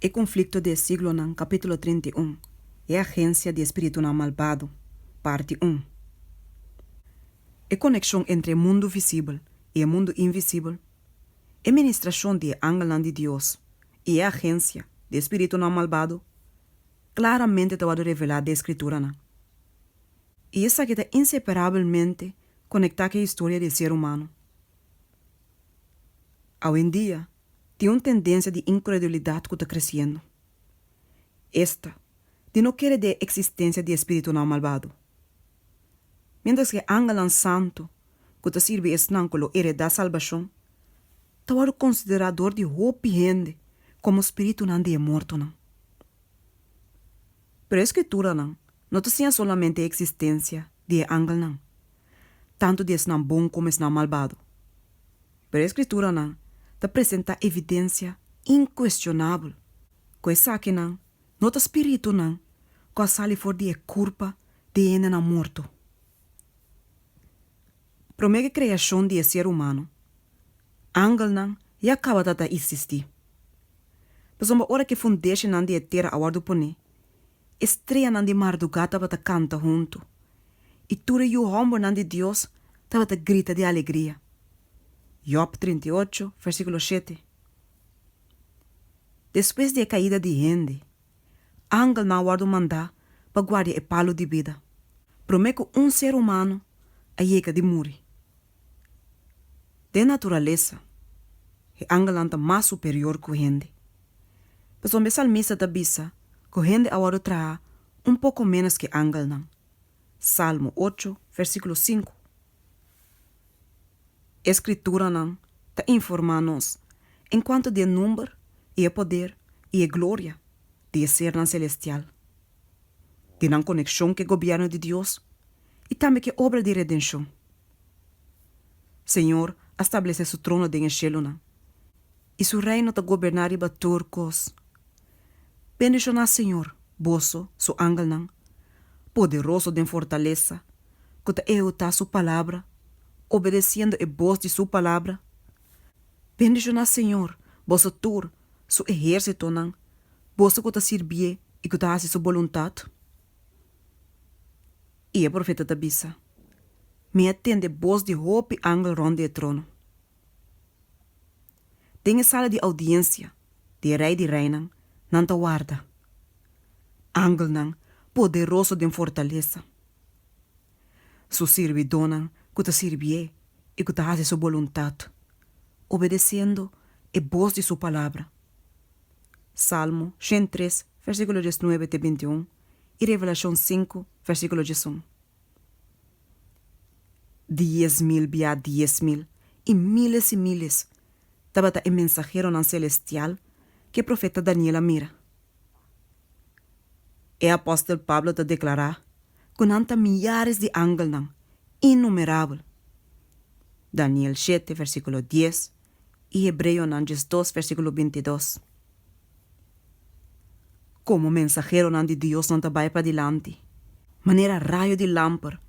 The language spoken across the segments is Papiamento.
E Konflikto di e Siglonan, kapítulo trinta i un, E Agensia di e Spiritunan Malbado, parti un. E konekshon entre e mundu visibel i e mundu invisibel, e ministrashon di e angelnan di Dios i e agensia di e spiritunan malbado klaramente ta wòrdu revelá den e Skrituranan, i esaki ta inseparabelmente konektá ku e historia di e ser humano. Awendia, tin un tendensia di inkredulidat ku ta kresiendo. Esta di no kere di e eksistensia di e spiritunan malbado. Miéntras ku e angelnan santu ku ta sirbi esnan ku lo eredá salbashon ta wòrdu konsiderá dor di hopi hende komo spiritunan di e mortonan. Pero e Skrituranan no ta siña solamente e eksistensia di e angelnan, tantu di esnan bon komo esnan malbado. Pero e Skrituranan ta presentá evidensia inkuestionabel ku esakinan no ta spiritunan ku a sali for di e kurpa di hendenan morto. Promé ke kreashon di e ser humano, angelnan ya tabata ta isistí. Pasobra ora ku e fundeshinan di e tera a wòrdu poné, E streanan di mardugá tabata kanta huntu, i tur e yu hòmbernan di Dios tabata grita di alegria. Jòb trinta i ocho, versíkulo shete. Despues di e kaida di hende, angelnan a wòrdu mandá pa guardia e palu di bida, promé ku un ser humano a yega di muri. Den naturalesa, e angelnan ta mas superior ku hende. Pasobra e salmista ta bisa ku hende a wòrdu traha un poko ménos ku e angelnan, Salmo ocho, versíkulo sinku. E Skrituranan ta informá nos enkuanto di e number i e poder i e gloria di e sernan selestial. di nan konekshon ku e gobièrnu di Dios i tambe ku e obra di redenshon. Señor a stablesé Su trono den e shelunan, i Su reino ta goberná riba tur kos. Bendishoná Señor, boso, Su angelnan, poderoso den fortalesa, ku ta ehekutá Su palabra, obedesiendo e bos di Su palabra. Bendishoná Señor, boso tur su ehérsitonan, boso ku ta sirbié i ku ta hasi su boluntat? I e profeta ta bisa, Mi a tende bos di hopi angel rònt di e trono. Den e sala di oudiensia di e Rei di Reinan nan ta warda angelnan poderoso den fortalesa. Su sirbidónan ku ta sirbié i ku ta hasi Su boluntat, obedesiendo e bos di Su palabra. Salmo shent tres, versíkulo dies nuebe te binti un i Revelashon sinku, versíkulo dies un. Dies mil bia dies mil i míles i míles tabata e mensaheronan selestial ku e profeta Daniel a mira. E apòstel Pablo ta deklará ku nan ta miyares di angelnan, innumerabel. Daniel shete versíkulo dies i Hebreonan diesdos versíkulo bintidos. Komo mensaheronan di Dios nan ta bai padilanti, manera rayo di lamper,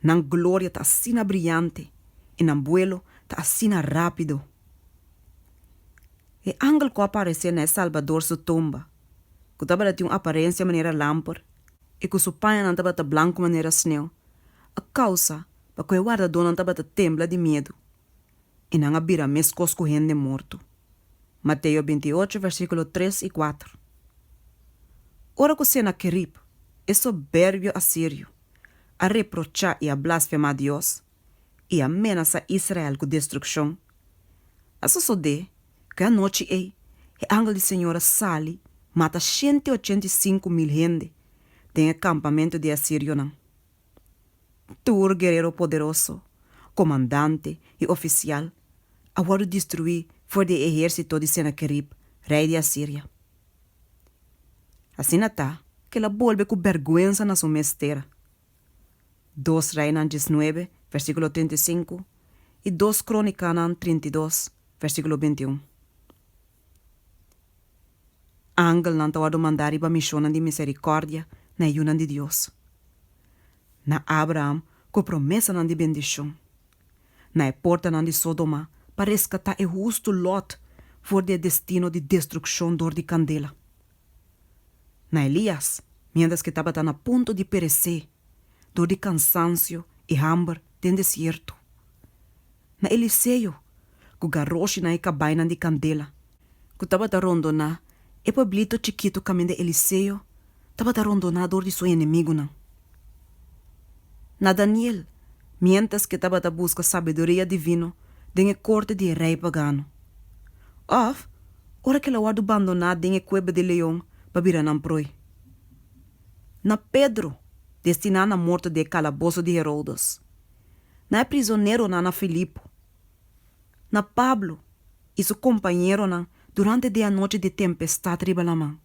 nan gloria ta asina briante i nan buelo ta asina rápido. E angel ku a paresé na e Salbador su tumba, ku tabata tin un aparensia manera lamper i ku su pañanan tabata blanku manera sneu, a kousa pa ku e wardadónan tabata tembla di miedu, i nan a bira meskos ku hende morto. Mateo binti i ocho versíkulo tres i kuater. Ora ku Senakerib, e soberbio asirio, a reprochá i a blasfemá Dios, i a menasá Israel ku destrukshon. A sosodé ku e anochi ei e angel di Señor a sali mata shenti ochenta i sinku mil hende den e kampamentu di e asirionan. Tur guerero poderoso, komandante i ofisial a wòrdu destruí for di e ehérsito di Senakerib, rei di Asiria. Asina ta, kel a bolbe ku bèrgwensa na su mes tera. Dos Reinan diesnuebe, versíkulo trinta i sinku, i Dos Krónikanan trinta i dos, versíkulo binti un. Angelnan ta wòrdu mandá riba mishonnan di miserikòrdia na e yunan di Dios, na Abraham ku promesanan di bendishon, na e portanan di Sódoma pa reskatá e hustu Lòt for di e destino di destrukshon dor di kandela. na Elias miéntras ke tabata na punto di peresé dor di kansansio i hamber den desierto, na Eliseo ku garoshi na e kabainan di kandela ku tabata rondoná e pueblito chikitu kaminda Eliseo tabata rondoná dor di su enemigunan. na Daniel miéntras ke tabata buska sabiduria divino den e korte di e rei pagano, òf ora ke lo wòrdu bandoná den e kueba di leon pa bira nan proi, na Pedro destiná na morto den e kalaboso di Herodes, na e prisoneronan na Filipo, na Pablo i su kompañeronan durante den anochi di tempestad riba laman.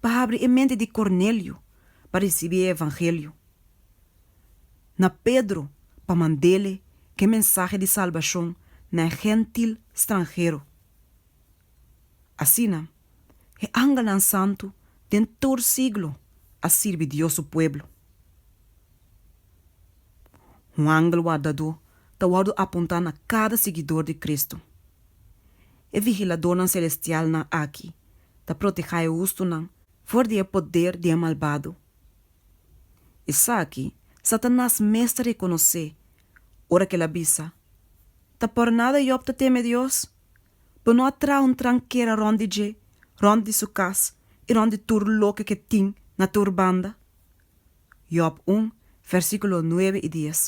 pa habri e mente di Cornelio pa ricibi e evangelio, na Pedro pa mandele ke mensahe di salbacion na e Gentil stranhero. Asina, e angelnan santu den tur siglo a sirbi Dios su pueblo. Un angel wardadó ta wordo apunta na cada siguidor di Cristo. E vigiladónan selestialnan aki ta protehá e hustunan for di e poder di e malbado. Esaki Satanas mes ta rekonosé ora ku el a bisa, Ta por nada Yòb ta teme Dios? Bo no a traha un trankera rònt di dje, rònt di su kas i rònt di tur loke ku e tin na tur banda? Yòb un, vèrsikulo nuebe i dies.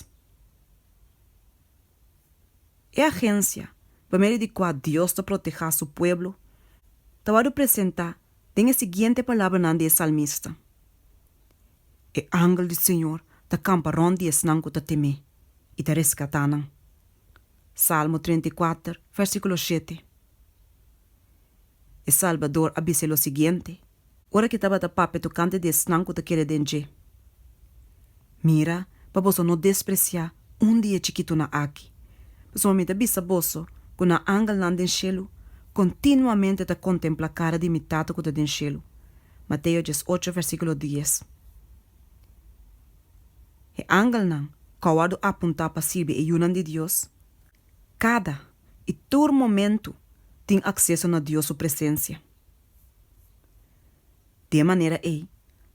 E agensia, pa medio di kua Dios ta protehá su pueblo, ta wòrdu presentá den e siguiente palabranan di e salmista, E angel di Señor ta kampa rònt di esnan ku ta tem'é, i ta reskatá nan. Salmo trenta i kuater, vèrsíkulo shete. E Salbador a bis'é lo siguiente, Ora ke tabata papia tokante di esnan ku ta kere den dje, mira pa boso no despresia un di e chikitunan aki, pasobra mi ta bisa boso ku nan angelnan den shelu kontinuamente ta kontempla kara di mi Tata ku ta den shelu. Mateo dies ocho, versíkulo dies. E angelnan ku a wòrdu apuntá pa sirbi e yunan di Dios, kada i tur momentu tin akseso na Dios su presensia. Di e manera ei,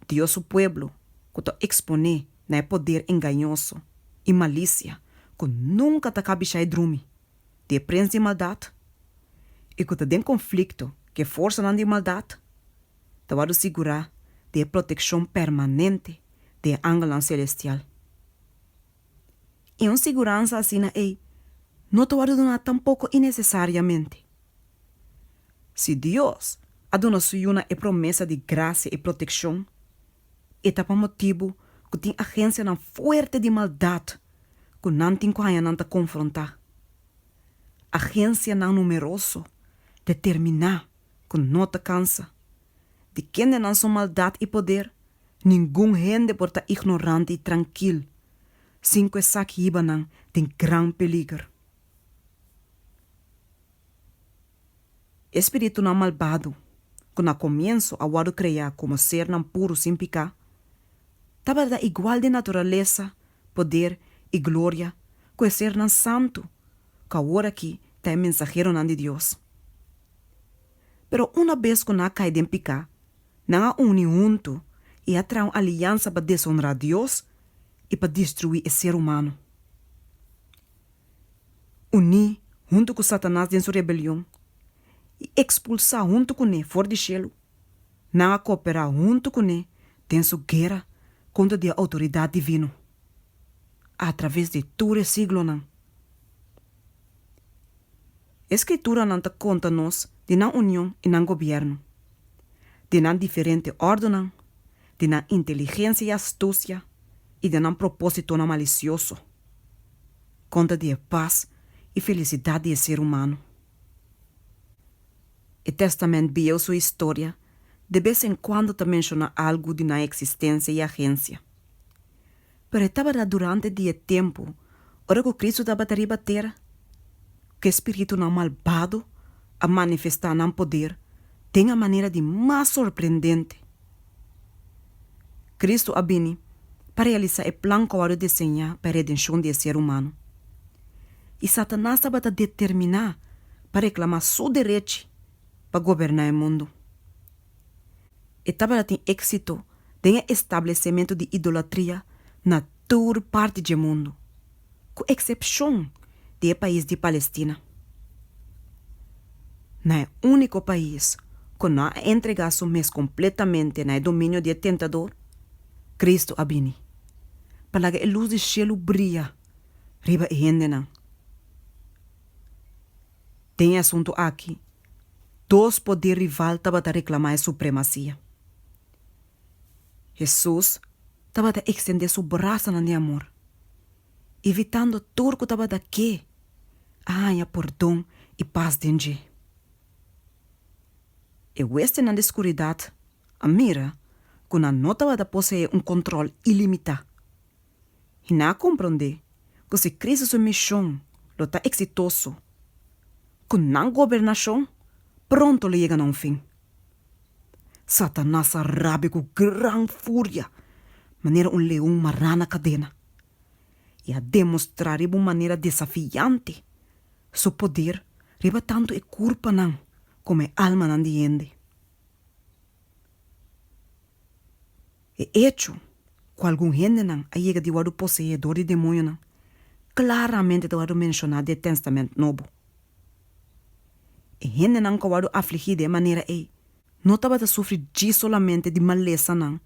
Dios su pueblo ku ta eksponé na e poder engañoso i malisia ku nunka ta kabishá e drumi di e prens di maldat i ku ta den konflikto ku e forsanan di maldat, ta wòrdu sigurá di e protekshon permanente di e angelnan selestial. I un siguransa asina ei no ta wòrdu duná tampoko inesesariamente. Si Dios a duna su yunan e promesa di grasia i protekshon, e ta pa motibu ku tin agensianan fuerte di maldat ku nan tin ku haña nan ta konfrontá, agensianan numeroso, determiná, ku no ta kansa. di kendenan su maldat i poder, ningun hende por ta ignorante i trankil sin ku esaki hiba nan den gran peliger. E spiritunan malbado, ku na komiensu a wòrdu kreá komo sernan puru sin piká, tabata igual den naturalesa, poder i gloria ku e sernan santu ku aworakí ta e mensaheronan di Dios. Pero una bes ku nan a kai den piká, nan a uni huntu i a traha un aliansa pa deshonrá Dios i pa destruí e ser humano. Uní huntu ku Satanas den su rebelion i ekspulsá huntu kuné for di shelu, nan a kooperá huntu kuné den su guera kontra di e outoridat divino atraves di tur e siglonan. E skrituranan ta konta nos di nan union i nan gobièrnu, di nan diferente òrdunan, di nan inteligensia i astusia i di nan propósitonan malisioso. Konta di e pas i felisidat di e ser humano. E Tèstamènt Bieu su historia de bes en kuando ta menshoná algu di nan eksistensia i agensia. Pero e tabata durante di e tempu ora ku Kristu tabata riba tera ku e spiritunan malbado a manifestá nan poder den a manera di mas sorprendente. Kristu a bini pa realisá e plan ku a wòrdu deseñá pa e redenshon di e ser humano. I Satanas tabata determiná pa reklamá su derechi pa goberná e mundu. E tabata tin éksito den e establesementu di idolatria na tur parti dje mundu, ku eksepshon di e pais di Palestina. Na e úniko pais ku no a entregá su mes kompletamente na e dominio di e tentador, Kristu a bini pa laga e lus di shelu bria riba e hendenan. Den e asuntu akí Dos poder rival tabata reclama e supremacia. Hesus tabata extende su brasanan di amor, invitando tur cu tabata ke a haña pordon y pas den dje. E huestenan di scuridad a mira cu nan no tabata posee un control ilimita i nan a komprondé ku si Kristu su mishon lo ta eksitoso, ku nan gobernashon pronto lo yega na un fin. Satanas a rabia ku gran furia manera un leon mará na kadena, i a demostrá riba un manera desafiante su poder riba tantu e kurpanan komo e almanan di hende. E echo ku algun hendenan a yega di wòrdu poseé dor di demonionan klaramente ta wòrdu menshoná den e Tèstamènt Nobo. E hendenan ku a wòrdu afligí den e manera ei no tabata sufri djis solamente di malesanan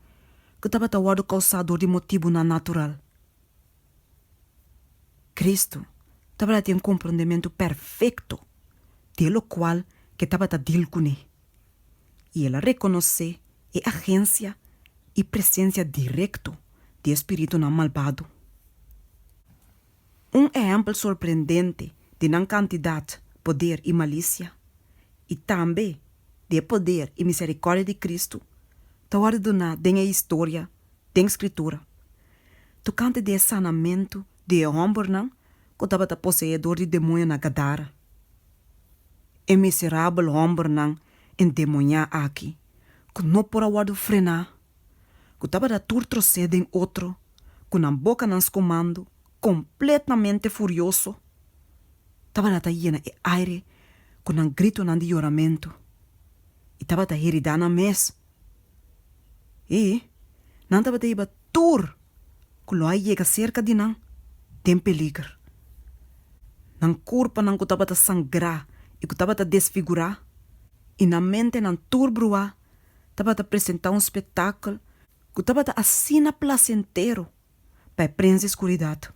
ku tabata wòrdu kousá dor di motibunan natural. Kristu tabata den komprondementu perfekto di e lokual ke tabata dil kuné. i el a rekonosé e agensia i presensia direkto di e spiritunan malbado. Un ehèmpel sorprendente di nan kantidat, poder i malisia, i tambe di e poder i miserikòrdia di Kristu, ta wòrdu duná den e historia den Skritura tokante di e sanamentu di e hòmbernan ku tabata poseedor di demoño na Gadara. e miserabel hòmbernan endemoniá aki ku no por a wòrdu frená, ku tabata tur trosé den otro, ku nan bokanan skomandu kompletamente furioso, tabata ta yena e aire ku nan gritonan di yoramentu i tabata heridá nan mes. E nan tabata hiba tur cu lo a yega cerca di nan den peliger. Nan curpanan cu tabata sangra y cu tabata desfigura y nan mentenan tur brua tabata presenta un spetakel cu tabata asina placentero pa e prens di skuridat.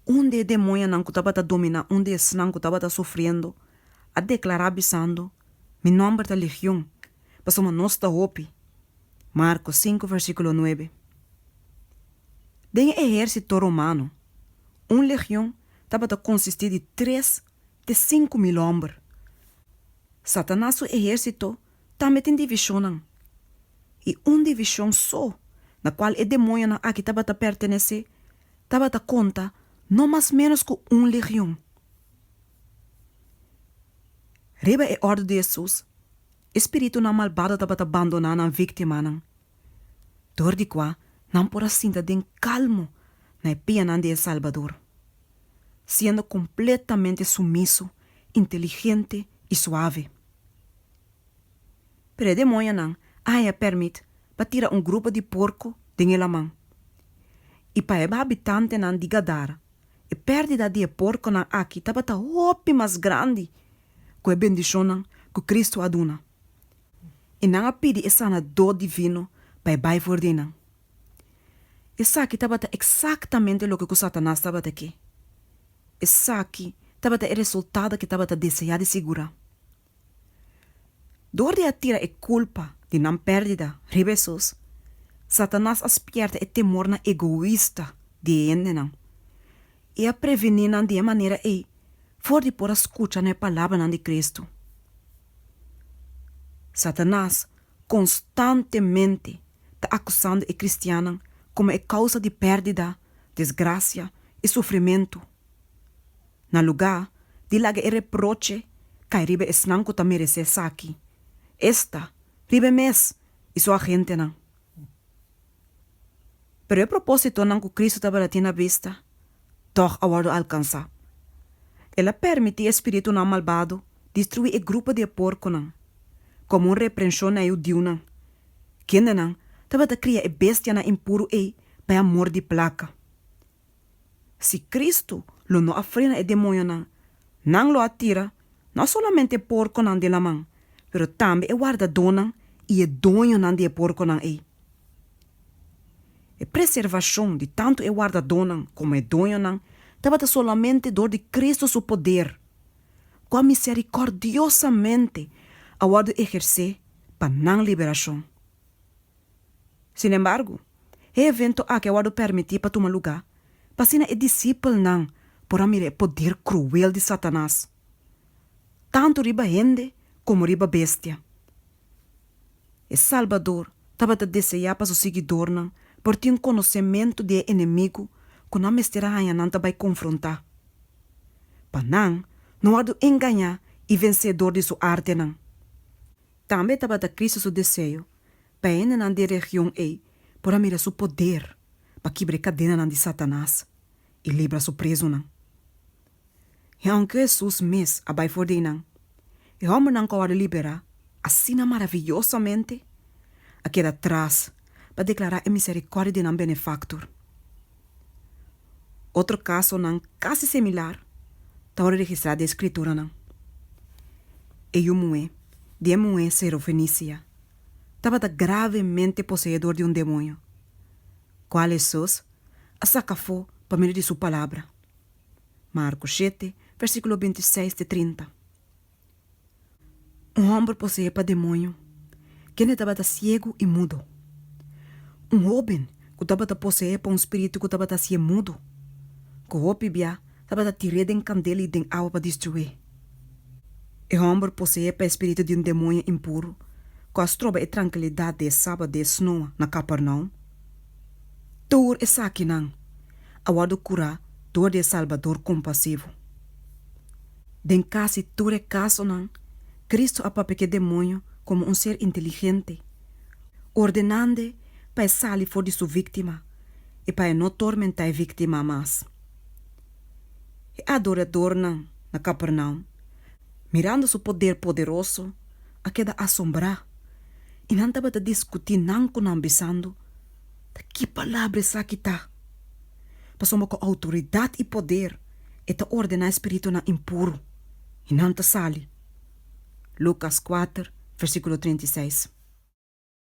Un di e demoñanan ku tabata dominá un di esnan ku tabata sufriendo a deklará bisando, Mi nòmber ta Legion, pasobra nos ta hopi. Marko sinku vèrsikulo nuebe. Den e ehérsito romano, un legion tabata konsistí di tres te sinku mil hòmber. Satanas su ehérsito tambe tin divishonnan, i un divishon so na kual e demoñonan aki tabata pertenesé tabata konta no mas ménos ku un legion. Riba e òrdu di Hesus, e spiritunan malbado tabata bandoná nan víktimanan. dor di kua nan por a sinta den kalmo na e pianan di e Salbador, siendo kompletamente sumiso, inteligente i suave. Pero e demonionan a haña pèrmit pa tira un grupo di porko den e laman. I pa e habitantenan di Gadara, e pèrdida di e porkonan aki tabata hopi mas grandi ku e bendishonnan ku Kristu a duna. i nan a pidi e sanadó divino pa e bai for di nan. Esaki tabata eksaktamente loke ku Satanas tabata ke. Esaki tabata e resultado ke tabata deseá di sigurá. Dor di a tira e kulpa di nan pèrdida riba Hesus, Satanas a spièrta e temor na egoista di e hendenan, i a prevení nan di e manera ei for di por a skucha na e palabranan di Kristu. Satanas konstantemente ta akusando e kristiannan komo e kousa di pèrdida, desgrasia i sufrimentu, na lugá di laga e reproche kai riba esnan ku ta meresé esaki, esta riba e mes i su agentenan. Pero e propósitonan ku Kristu tabata tin na bista tòg a wòrdu alkansá. El a pèrmití e spiritunan malbado destruí e grupo di e porkunan komo un reprenshon na e hudiunan, kendenan tabata kria e bestianan impuru ei pa e amor di plaka. Si Cristo lo no a frena e demonionan, nan lo a tira no a solamente porconan den laman, pero tambe e wardadonan y e doñonan di e porconan ey. E preservacion di tanto e wardadonan como e doñonan tabata solamente dor di Cristo su poder, cu a misericordiosamente a wordo eherce pa nan liberacion. Sin embargo, e evento aki a wòrdu permití pa tuma lugá pa asina e disipelnan por a mira e poder kruel di Satanas tantu riba hende komo riba bestia. E Salbador tabata deseá pa su siguidornan por tin konosementu di e enemigu ku nan mester a haña nan ta bai konfrontá, pa nan no wòrdu engañá i vensedor di su artenan. Tambe tabata Cristo su deseo pa hendenan di e region ei por a mira su poder pa kibra e kadenanan di Satanas i libra su prezonan. I aunke Hesus mes a bai for di einan, e hòmbernan ku a wòrdu liberá asina maraviyosamente a keda tras pa deklará e miserikòrdia di nan Benefaktor. Otro kasonan kasi similar ta wòrdu registrá den Skrituranan. E yu muhé di e muhé Sirofenicia tabata gravemente poseedor di un demonio, kual Hesus a saka afó pa medio di su Palabra, Marko shete, vèrsíkulo binti seis te trinta. Un homber poseé pa demoño. Kende tabata siegu i mudu? Un hóben ku tabata poseé pa un spiritu ku tabata hasié mudu, ku hopi bia tabata tir'é den kandel i den awa pa destruí. E homber poseé pa e spiritu di un demoño impuru ku a stroba e trankilidat di e Sabat di esnò na Kapernaum. Tur esakinan a wòrdu kurá dor di e Salbador kompasivo. Den casi tur e casonan, Cristo a papia cu e demonio como un ser inteligente, ordenande pa e sali for di su victima y pa e no tormenta e victima mas. E adoradornan na Capernaum, mirando su poder poderoso, a keda asombrá y nan tabata discutí nan cu nan bisando, Ta ki palabra esaki ta? Pasobra ku outoridat i poder e ta ordená e spiritunan impuru, i nan ta sali. Lukas kuater, versíkulo treinta i seis.